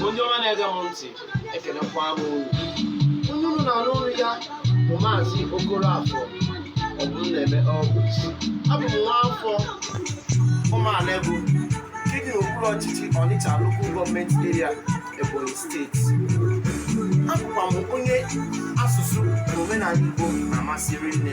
onye ọma na-ege m ntị ekelekwa m unu onye unu na-anụ olu ya bụ maazị okoroafọ ọbụmneme ọgụt abụ m nwa afọ ụmụala ebo nke dị n'okpuru ọchịchị ọnịcha lokal gọọmenti eria ebonyi steeti abụkwa m onye asụsụ na omenala igbo na-amasị rinne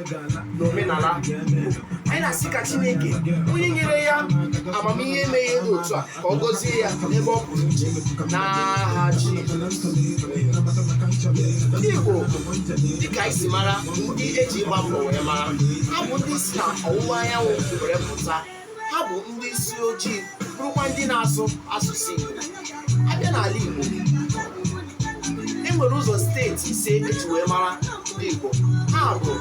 na omenala anyị na-asị ka chineke onye nyere ya amamihe ime ihe dị otu a ka ọ gọzie ya n'ebe ọ pụrụ iche n'aha jizọs ndị igbo dịka anyị si mara ndị eji ịgba mbọ wee mara ha bụ ndị si na ọwụwa anyanwụ were pụta ha bụ ndị isi ojii bụrụkwa ndị na-asụ asụsụ Igbo abịa n'ala Igbo e nwere ụzọ steeti ise eji wee mara ndị Igbo ha bụ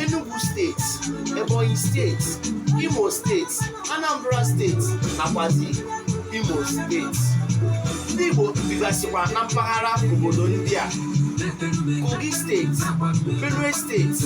Enugu steeti Ebonyi steeti Imo steeti Anambra steeti nakwazi Imo steeti ndị Igbo bigasịkwa na mpaghara obodo ndị a Kogi steeti Benue steeti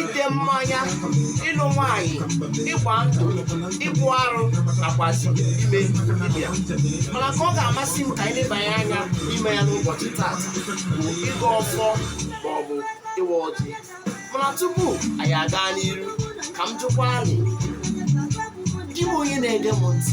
ite mmanya ịlụ nwanyị ịgba ndụ ịbụ arụ nakwazi ime dibịa mana nke ọ ga-amasị m ka anyị lebanye anya ime ya n'ụbọchị tata bụ ịgọ ọfọ maọbụ ịwa ọjị mana tupu anyị aga n'iru ka m jụkwa anyị gị bụ onye na-ege m ntị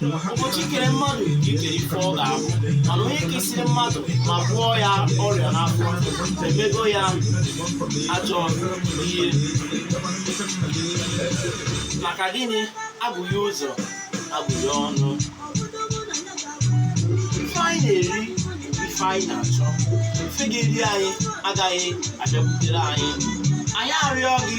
ụbọchị i kere mmadụ i kere ife ọ ga-abụ mana onye kesịrị mmadụ ma gwọọ ya ọrịa n'afọ emego ya ajọ ihe maka gịnị agbaghee ụzọ agbaghee ọnụ ife anyị na-eri ife anyị na-achọ ife ga-eri anyị agaghị abịakwutere anyị anyị arịọ gị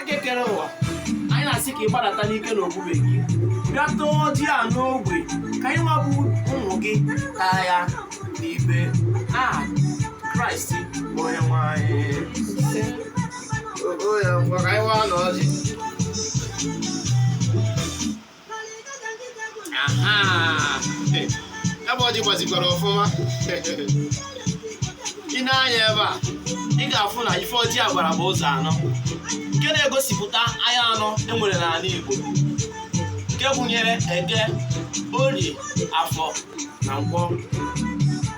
eke kere ụwa anyị na-asị ka ị gbadata n'ike na ebube gị bịa taa ọjị a n'ogbe ka anyị nwa bụ ụmụ gị taa ya n'ibe n'aha kraịst bụ onye nwe anyị Ogo ya ngwa ka anyị waanụ ọjị. ebe ọjị gbazikwara ọfụma i nee anya ebe a ị ga-afụ na ife ọjị a gbara bụ ụzọ anọ nke na-egosipụta ahịa anọ enwere n'ala Igbo nke gụnyere eke orie afọ na nkwọ